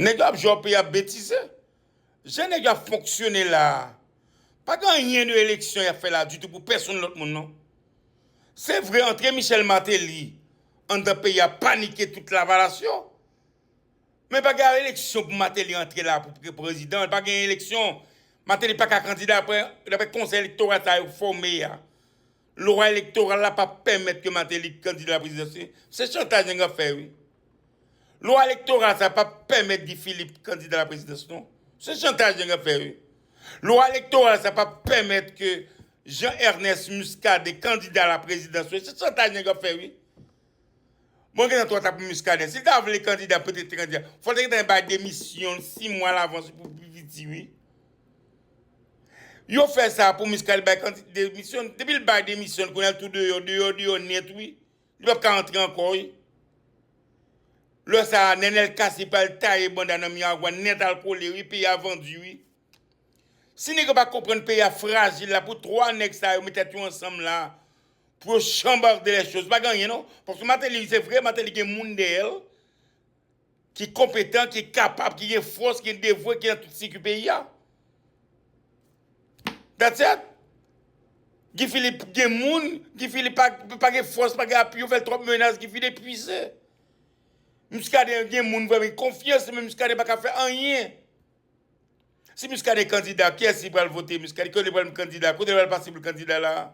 Nèg yo ap jwe ap yap betize. Jan nèg yo ap fonksyone la a, pa gen anyen de eleksyon y ap fè la a ditou pou pèsonn lòt moun non. Se vre antre Michel Martelly anndan peyi a panike tout lavalas yo, men pa gen eleksyon pou Martelly antre la a pou pre prezidan, pa gen eleksyon, Martelly pa ka kandida daprè konsèy elektoral sa yo fòme a. Lwa elektoral la pa pèmèt ke Martelly kandida prezidansyl. Se chantaj nèg ap fè wi. Lwa elektoral sa pa pèmèt Guy Philippe kandida la prezidans non. Se chantaj nèg ap fè wi. Lwa elektoral sa pa pèmèt ke Jean Ernest Muscadin kandida la prezidans wi. Se chantaj nèg ap fè wi. Mwen gentan twòta pou Muscadin. Si l ta vle kandida petèt li te kandida. Fò l te gentan bay demisyon l 6 mwa lavanse pou pi piti wi. Yo fè sa pou Muscadin bay demisyon l. Depi l bay demisyon l kounya l tou deyò, deyò, deyò nèt wi. Li pap ka antre ankò wi. Lè sa a Nenel Cassy pral taye banda nan Miragwàn nètalkole wi. Peyi a vandu wi. Si nèg yo pa konprann peyi a frajil la pou 3 nèg sa yo met tèt yo ansanm la pou yo chanbarde lè choz pa gen anyen non paske Martelly se vre Martelly gen moun dèyè l ki konpetan ki kapab ki gen fòs ki devwe ki nan tout sikou peyi a that's it Guy Philippe gen moun Guy Philippe pa gen fòs pa gen apui yo fè l twòp menas Guy Philippe epuize Muscadin gen moun vrèman konfyans men Muscadin pa ka fè anyen Si Muscadin kandida kiyès li pral vote Muscadin kiyès li pral m kandida kote li pral pase pou l kandida la a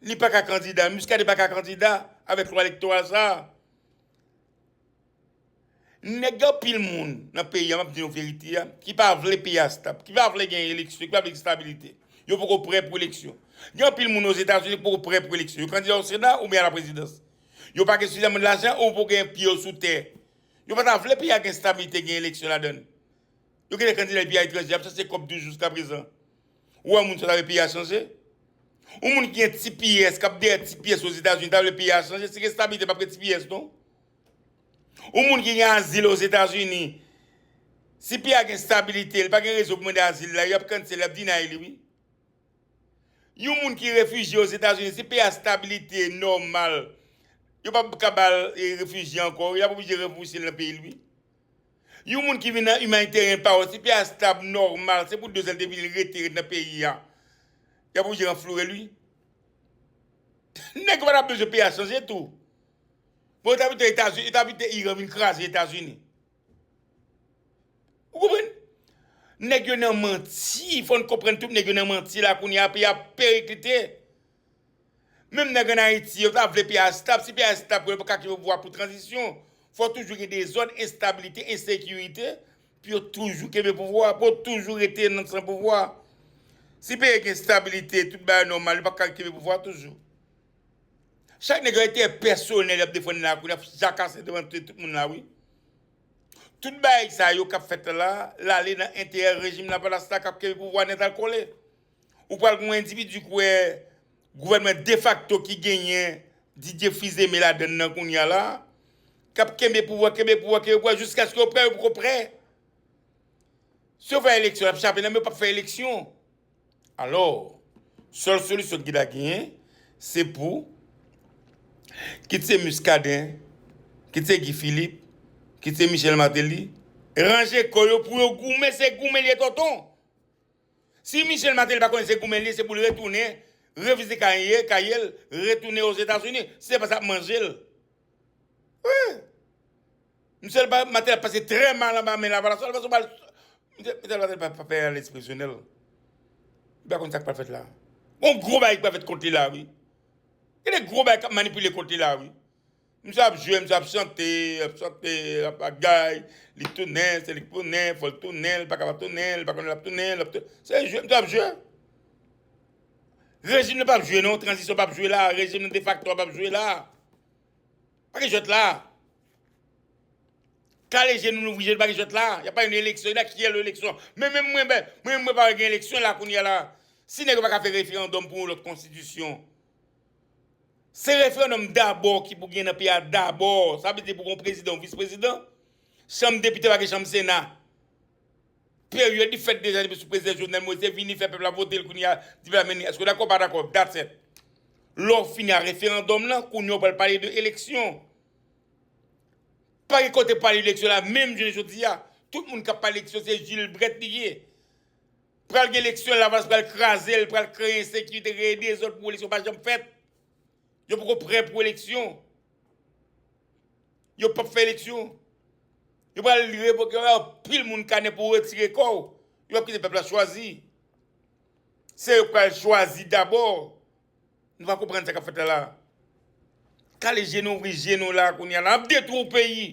li pa ka kandida Muscadin pa ka kandida avèk lwa elektoral sa a nèg gen anpil moun nan peyi a m ap di nou verite a ki pa vle peyi a stab ki pa vle gen eleksyon ki pa vle gen stabilite yo poko prè pou eleksyon gen anpil moun ozetazini ki poko prè pou eleksyon yo kandida oseda oubyen a la prezidans yo pa gen sufizamman lajan ou pou gen pye yo sou tè. Yo pa ta vle peyi a gen stabilite, gen eleksyon ladann. Yo gen de kandida epi a etranje ap chache kòb toujou jiska prezan. Ou wè yon moun sa ta vle peyi a chanje? Yon moun ki gen tps, k ap dèyè tps Ozetazini ta vle peyi a chanje? Si gen stabilite pap gen tps non. Yon moun ki gen azil Ozetazini, si peyi a gen stabilite, li pa gen rezon pou mande azil la, y ap cancel, y ap deny li wi. Yon moun ki refijye Ozetazini, si peyi a stabilite nòmal, yo pa p ka ba l refijye ankò, y ap oblije ranfouse l nan peyi l wi. Yon moun ki vin nan imanitèryen pa yo, si peyi a stab, nòmal, se pou 2 zan l te vini, l rete, rete nan peyi a, y ap oblije ranfloure l wi. Nèg yo pa ta bezwen peyi a chanje tou. Bon yo ta pito Etazini, yo ta pito Iran vin kraze Etazini. Ou konprann? Nèg yo nan manti, fòn konprann tout nèg yo nan manti la kounye a peyi a perekilite. Menm nèg an Ayiti yo ta vle peyi a stab, si peyi a stab pou yo ka kenbe pouvwa pou tranzisyon, fò toujou gen dezòd, enstabilite, ensekirite pou yo toujou kenbe pouvwa, pou yo toujou rete nan san pouvwa. Si peyi a gen estabilite, tout bagay nòmal, yo pa ka kenbe pouvwa toujou. Chak nèg lan entèrè pèsonèl yap defann la kounya jaka se devan tout moun la wi. Tout bagay sa yo kap fèt la, lale nan entèrè rejim lavalas la kap kenbe pouvwa nèt al kole. Ou pral gen yon endividi kouwè gouvènman defakto ki genyen Didier Fils Aimé ladann nan kounya la kap kenbe pouvwa, kenbe pouvwa, kenbe pouvwa jiskaske yo prè yo poko prè. Si yo fè eleksyon lap chape nan men yo pap fè eleksyon. Alò, sèl solisyon ki ta genyen, se pou, kit se Muscadin, kit se Guy Philippe, kit se Michel Martelly, ranje kò yo pou yo goumen, se goumen li ye tonton! Si Michel Martelly pa konnen se goumen li ye, se pou li retounen, revizite kay li ye, kay li, retounen Ozetazini, se pa sa k manje l. Wi! Michel Martelly ap pase trè mal anba men Lavalas. Lavalas ou pa al. Michel Martelly pa fè anyen lè diskresyonèl. Li pa konn sa k pral fèt la. Gon gwo bagay ki pral fèt kont li la wi. Gen de gwo bagay k ap manipile kont li la wi. Misye ap jwe, misye ap chante, l ap chante, l ap bagay, li tounen, se li k tounen, fò l tounen, li pa ka pa tounen, li pa konnen l ap tounen, l ap tounen. Se jwe misye ap jwe. Rejim nan pap jwe non, tranzisyon pap jwe la, rejim nan defakto a pap jwe la. Pa gen jwèt la. Kale je nou louvri je nou pa gen jwèt la. Y ap pale de eleksyon, e da kiyè lè eleksyon? Men menm mwen mwen menm mwen pa wè gen eleksyon la kounye a la. Si nèg yo pa ka fè referandòm pou yon lòt konstitisyon. Se referandòm dabò ki pou gen nan peyi a dabò. Sa vle di pou gen yon prezidan, yon vis prezidan. Chanm depite pa gen chanm sena. Period li fèt deja depi sou prezidan jovenel moise vini fè pèp la votel kounya di pèp la men eske w dakò w pa dakò that's it lè w fini a referandòm lan kounya w pral pale de eleksyon pa gen kote pale eleksyon la menm jounen jodi a tout moun kap pale eleksyon se jilbrèt li ye pral gen eleksyon lavalas pral kraze l pral kreye ensekirite kreye dezòd pou eleksyon pa janm fèt yo poko prè pou eleksyon. Yo pap fè eleksyon. Yo pral revoke yo bay anpil moun kanè pou retire kò. Yo pap kite pèp la chwazi. Se yo k pral chwazi dabò. Nou pa konprann sa k ap fèt la la. Kale je nou, ouvri je nou la a kounye a. N ap detwi yon peyi.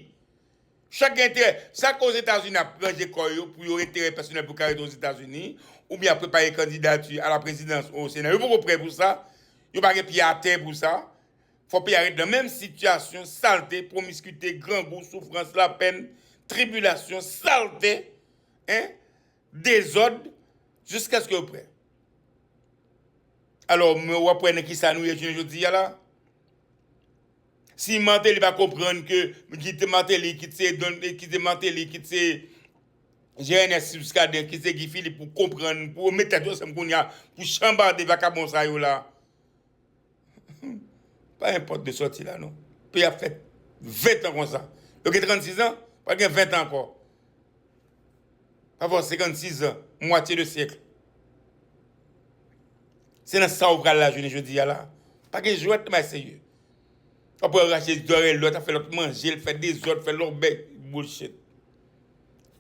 Chak gen enterè. Sa k Ozetazini ap ranje kò yo pou yon enterè pèsonèl pou yo ka rete Ozetazini oubyen y ap prepare kandidati a la prezidans ou o sena. Yo poko prè pou sa. Yo pa gen pye atè pou sa. Fò peyi a ret nan menm sitiyasyon salte, pwomiskite, grangou, soufrans, lapèn, tribilasyon, salte, en, dezòd, jiskaske yo prè. Alò, men w ap wè nan ki sa nou ye jounen jodi a la. Si Martelly pa konprann ke ki te Martelly, ki te Don, ki te Martelly, ki te Jean Ernest Muscadin, ki te Guy Philippe pou konprann, pou yo met tèt yo ansanm kounye a pou chanbarde vakabon sa yo la. Pa gen pòt de sòti la non. Peyi ap fè 20 tan konsa. Yo gen 36 zan, pral gen 20 tan ankò. Pa fè w 56 zan, mwatye de syèk. Se nan sa ou pral la jounen jodi a la. Pa gen jwèt nan bagay serye. Wap wè yo rache zòrèy lòt, ap fè lòt manje, l fè dezòd, fè lòbèy. Bullshit.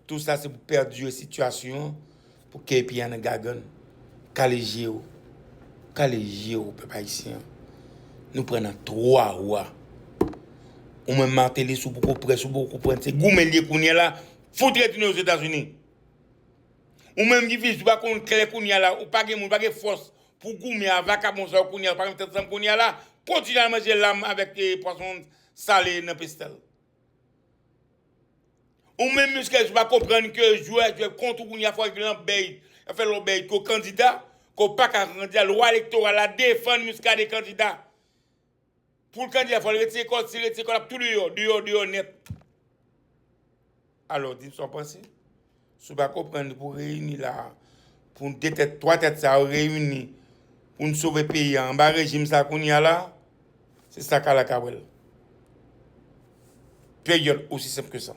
Tou sa se pou perdure situation pou KP a nan gagann. Kale je ou. Kale je ou pèp ayisyen. Nou pran nan 3 wa. Ou menm Martelly sou poko près ou poko konprann se goumen liye kounye la fout retounen ozetazini. Ou menm ki fis ou pa konn klè kounye la ou pa gen moun ou pa gen fòs pou goumen a vakabon sa yo kounye la pa gen tèt ansanm kounye la kontinye al manje lam avèk pwason sale nan pestèl. Ou menm Muscadin ou pa konprann ke jwè ap jwè kont ou kounye a fòk gen lanbèy, yap fè lanbèy ke w kandida, ke w paka kandida, lwa elektoral la defann Muscadin kandida. Pou l kandida fòk l retire kò l, si l retire kò l ap tou deyò, deyò deyò nèt. Alò di m sa w panse? Si w pa konprann li pou w reyini la a, pou n 2 tèt, 3 tèt sa yo reyini pou n sove peyi a anba rejim sa kounya la, se sa kala ka wè l. Period. Osi senp ke sa.